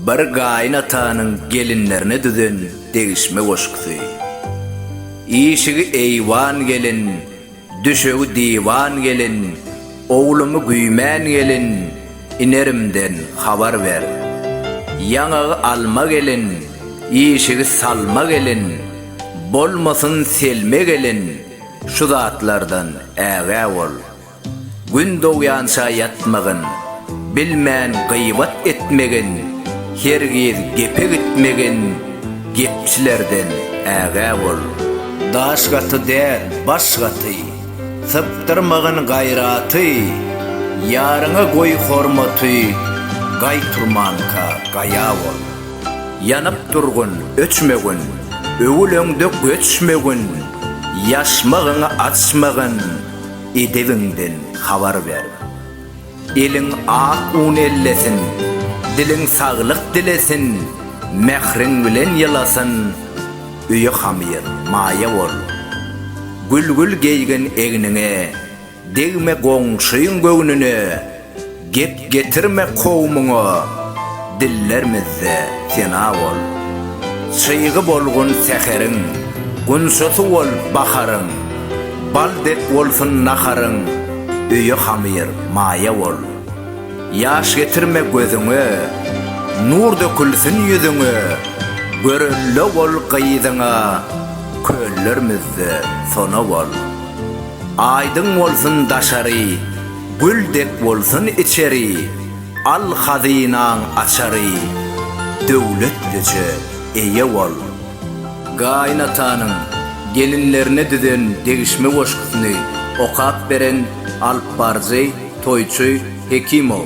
Bir gaýyn atanyň gelinlerine düzen degişme goşgusy. Işigi eýwan gelin, düşegi diwan gelin, owlumy güýmän gelin, inerimden habar ber. Ýaňagy alma gelin, işigi salma gelin, bolmasyn selme gelin, şu zatlardan ägä bol. Gün dogýança ýatmagyn, Bilmän gybat etmegin, Hergiz gepe gitmegin, Gepçilerden ägä bol. Daş gaty däl, baş gaty, Sypdyrmagyn gaýraty, Ýaryňa goý hormaty, Gaý turmanka, gaýa bol. Ýanyp durgun, öçmegin, Öwül öňde göçmegin, Ýaşmagyňy açmagyn, Edebiňden habar ber. Eliň ak un ellesin, Diliň saglyk dilesin, Mähriň bilen ýylasyn, Öýe hamyr, maýa bol. Gülgül geýgin egniňe, Degme goňşyň göwnüne, Gep getirme kowumyňa, dillermizde sena bol. Çygy bolgun säheriň, gunçasy bol baharyň. Bal dek bolsun naharyň, öýe hamyr, maýa bol. Ýaş getirme gözüňe, nur dökülsin ýüzüňe. Görelde bol gyzyňa, köllermizde sona bol. Aýdyň bolsun daşary, Gül dek bolsun içeri, Al hazynaň açary, Döwletlije eýe bol. Gaýynatanyň gelinlerine düzen degişme goşgusyny okap beren alypbaryjy Toýçy Hekimow.